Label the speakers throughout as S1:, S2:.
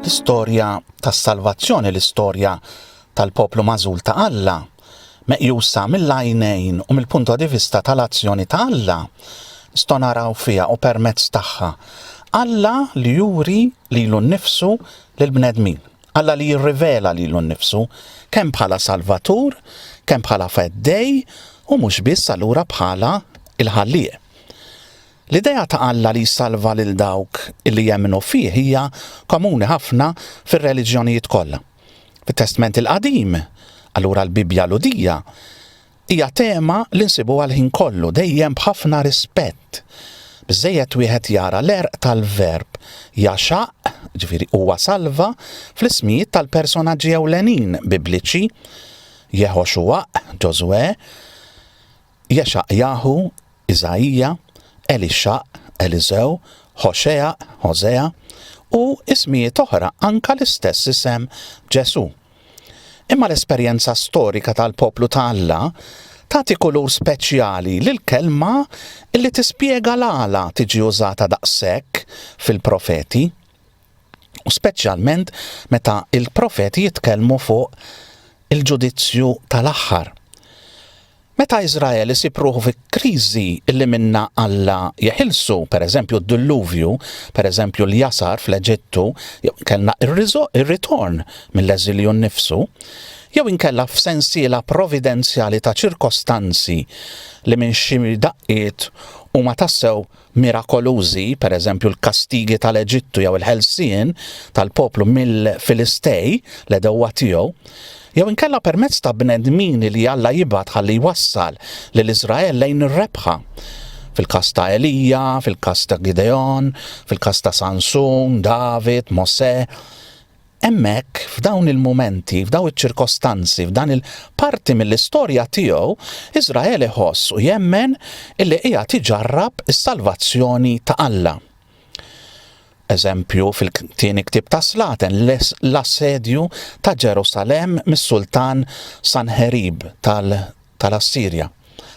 S1: L-istorja tas-salvazzjoni, l-istorja tal-poplu mażul ta' Alla, meqjusa mill-għajnejn u mill-punto di vista tal-azzjoni ta' Alla, nistgħu naraw fiha u permezz tagħha. Alla li juri lilu nnifsu lill-bnedmin. Alla li jirrivela lilu nnifsu, kemm bħala Salvatur, kemm bħala Feddej u mhux biss allura bħala l-Ħallieq. L-idea ta' Alla li jsalva lil dawk li jemmnu fih hija komuni ħafna fir-reliġjonijiet kollha. Fit-Testment il-Qadim, allura l-Bibbja Lhudija, Hija tema li nsibuha l-ħin kollu, dejjem b'ħafna rispett. Biżżejjed wieħed jara l-għerq tal-verb jagħxaq, ġifieri huwa salva, fl-ismijiet tal-personaġġi ewlenin Bibliċi, Jeħoxuwaq, Ġożwè, Jexaqjaħu, Iżaija, Elixxaq, Eliżew, Ħoxeaq, Ħosea, u ismijiet oħra, anke l-istess isem Ġesù. Imma l-esperjenza storika tal-poplu ta' Alla tagħti kulur speċjali lill-Kelma li tispjega l-għala tiġi użata daqshekk fil-profeti, u speċjalment meta l-profeti jitkellmu fuq il-ġudizzju tal-aħħar. Meta Iżrael isib ruħu fi kriżi li minnha Alla jeħilsu, pereżempju d-Dilluvju, pereżempju l-jasar fl-Eġittu, jew inkella r-ritorn mill-eżilju nnifsu, jew inkella f'sensiela providenzjali ta' ċirkostanzi li minn xi daqqiet huma tassew mirakolużi, pereżempju l-kastigi tal-Eġittu jew il-ħelsien tal-poplu mill-Filistej, l-għedewwa tiegħu, jew inkella permezz ta' bnedmin li Alla jibgħat ħalli jwassal lil Iżrael lejn ir-rebħa, fil-każ ta' Elija, fil-każ ta' Gideon, fil-każ ta' Sansun, David, Mosè, Hemmhekk, f'dawn il-mumenti, f'dawn iċ-ċirkostanzi, f'dan il, parti mill-istorja tiegħu, Iżrael iħoss u jemmen illi qiegħed iġarrab is-salvazzjoni ta' Alla. Eżempju fil-tieni ktieb ta' Slaten, l-assedju ta' Ġerusalemm mis-Sultan Sanħerib tal-Assirja.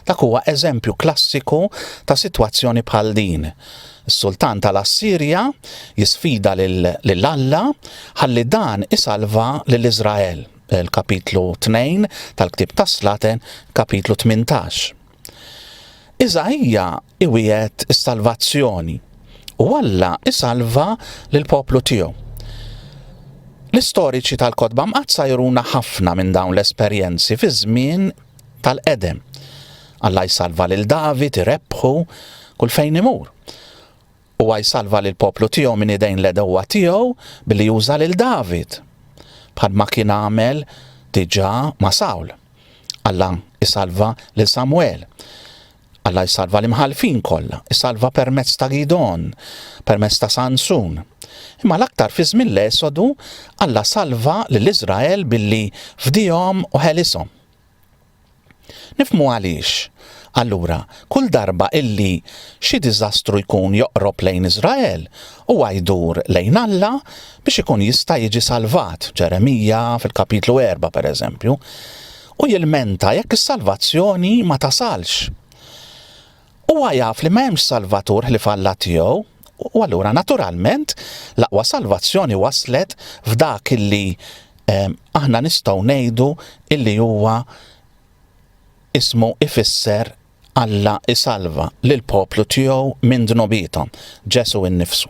S1: Dak huwa eżempju klassiku ta' sitwazzjoni bħal din. Is-sultan tal-Assirja jisfida lil Alla ħalli dan isalva lil Iżrael, il-kapitlu 2 tal-ktieb tas-Slaten, kapitlu 18. Iżaija iwiegħed is-salvazzjoni u Alla isalva lill-poplu tiegħu. L-istoriċi tal-kotba mqaddsa juruna ħafna minn dawn l-esperjenzi fi żmien tal-qedem. Alla jsalva lil David irebħu kull fejn imur. U jsalva lil poplu tiegħu minn idejn l-edewwa tiegħu billi juża lil David. Bħal ma kien għamel diġà ma' Sawl. Alla jsalva lil Samuel Alla jsalva l-imħallfin kollha, isalva permezz ta' Gidgħon, permezz ta' Sansun. Imma l-aktar fi żmien l-Esodu, Alla salva lil Iżrael billi fdihom u ħelishom. Nifhmu għaliex, allura, kull darba illi xi diżastru jkun joqrob lejn Iżrael, huwa jdur lejn Alla biex ikun jista' jiġi salvat, Ġeremija fil-kapitlu erba', pereżempju. u jilmenta jekk is-salvazzjoni ma tasalx. Huwa jaf li ma hemmx Salvatur ħlief Alla tiegħu, u allura naturalment l-aqwa salvazzjoni waslet f'dak illi ehm, aħna nistgħu ngħidu illi huwa ismu ifisser Alla isalva lill-poplu tiegħu minn dnubiethom, Ġesù innifsu.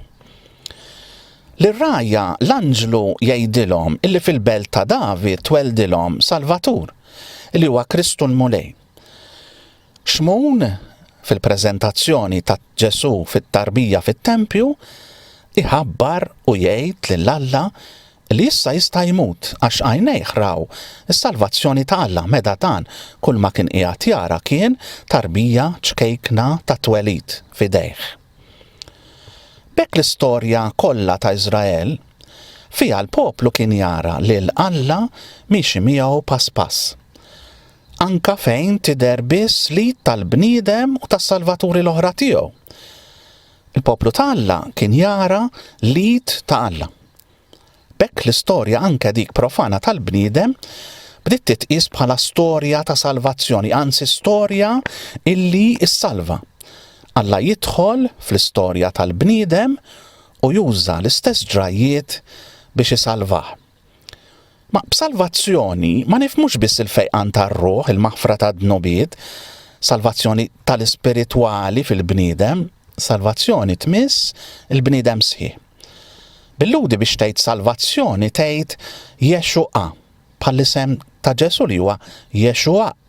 S1: Lir-rgħajja l-anġlu jgħidilhom illi fil-belt ta' David tweldilhom Salvatur, li huwa Kristu l-Mulej. Xmun, fil-preżentazzjoni ta' Ġesù fit-tarbija fit-tempju, iħabbar u jgħid lil Alla li issa jista' jmut, għax għajnejh raw is-salvazzjoni ta' Alla, meta dan, kulma kien qiegħed jara kien tarbija ċkejkna tat-twelid f'idejh. B'hekk l-istorja kollha ta' Iżrael, fiha l-poplu kien jara lil Alla miexi miegħu pass pass. Anka fejn tidher biss lid tal-bniedem u tas-salvaturi l-oħra tiegħu. Il-poplu ta' Alla kien jara lid ta' Alla. B'hekk l-istorja anke dik profana tal-bniedem bdiet titqies bħala storja ta' salvazzjoni, anzi storja illi ssalva. Alla jidħol fl-istorja tal-bniedem u juża l-istess ġrajjiet biex isalvah. Ma b'salvazzjoni ma nifhmux biss il-fejqan tar-ruħ, il-maħfra tad-dnubiet, salvazzjoni tal-ispiritwali fil-bniedem, salvazzjoni tmiss il-bniedem sħiħ. Bil-Lhudi biex tgħid salvazzjoni tgħid Jexu'a, bħall-isem ta' Ġesù li huwa Jexu'aq.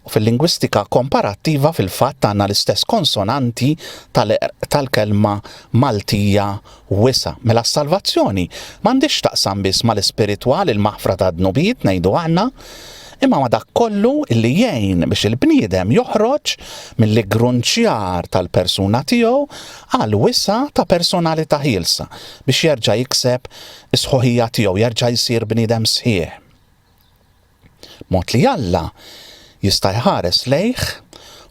S1: U fil-lingwistika komparattiva fil-fatt għandna l-istess konsonanti tal-kelma Maltija wisa'. Mela s-salvazzjoni m'għandhiex x'taqsam biss mal-ispiritwal il-maħfra tad-dnubiet ngħidu aħna, imma ma' dak kollu li jgħin biex il-bniedem joħroġ mill-iggrunċjar tal-persuna tiegħu għal wisa' ta' personalità ħielsa biex jerġa' jikseb is-sħuħija tiegħu, jerġa' jsir bniedem sħiħ. B'mod li Alla jista' jħares lejh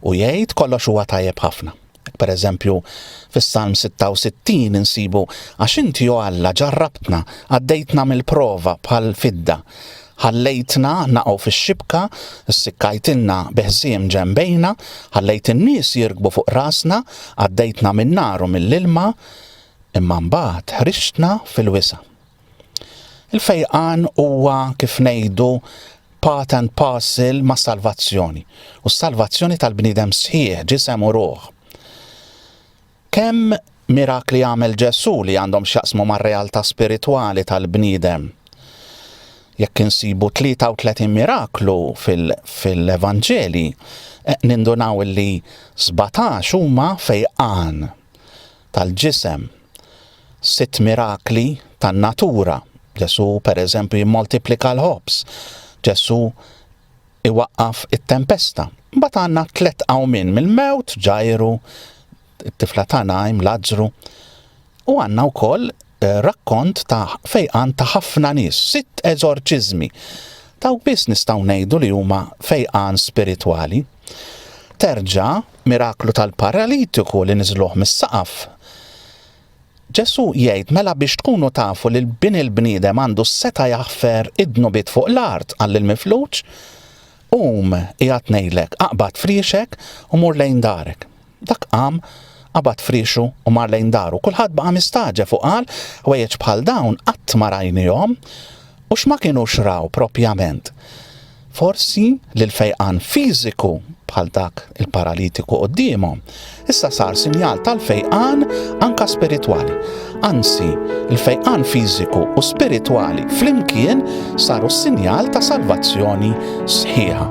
S1: u jgħid kollox huwa tajjeb ħafna. Hekk pereżempju fis-Salm 66 insibu, Għax inti, o Alla, ġarrabtna, għaddejtna mill-prova bħall-fidda, Ħallejtna naqgħu fix-xibka, ssikkajtilna bi ħżiem ġenbejna, ħallejt in-nies jirkbu fuq rasna, għaddejtna min-nar u mill-ilma, imma mbagħad ħriġtna fil-wisa'. Il-fejqan huwa kif ngħidu part and parcel mas-salvazzjoni, u s-salvazzjoni tal-bniedem sħiħ, ġisem u ruħ. Kemm mirakli għamel Ġesù li għandhom x'jaqsmu mar-realtà spiritwali tal-bniedem? Jekk insibu 33 miraklu fil-Evanġelji, nindunaw li sbatax huma fejqan tal-ġisem, sitt mirakli tan-natura, Ġesù pereżempju jimmoltiplika l-ħobż, Ġesù iwaqqaf it-tempesta. Mbagħad għandna tliet qawmien mill-mewt, Ġajru, it-tifla ta' Najm, Lazzru, u għandna wkoll eh, rakkont ta' fejqan ta' ħafna nies, sitt eżorċiżmi. Dawk biss nistgħu ngħidu li huma fejqan spiritwali. Terġa' miraklu tal-paralitiku li niżluh mis-saqaf Ġesù jgħid, Mela biex tkunu tafu li l-Bin il-bniedem għandu s-setgħa jaħfer id-dnubiet fuq l-art, qal lill-mifluġ, Qum, qiegħed ngħidlek, aqbad friexek u mur lejn darek. Dak qam, qabad friexu u mar lejn daru. Kulħadd baqa' mistagħġeb u qal, Ħwejjeġ bħal dawn qatt ma rajnihom! U x'ma kinux raw propjament? Forsi li l-fejqan fiżiku, bħal dak il-paralitiku quddiemhom, issa sar sinjal tal-fejqan anka spiritwali. Anzi, il-fejqan fiżiku u spiritwali flimkien saru s-sinjal ta' salvazzjoni sħiħa.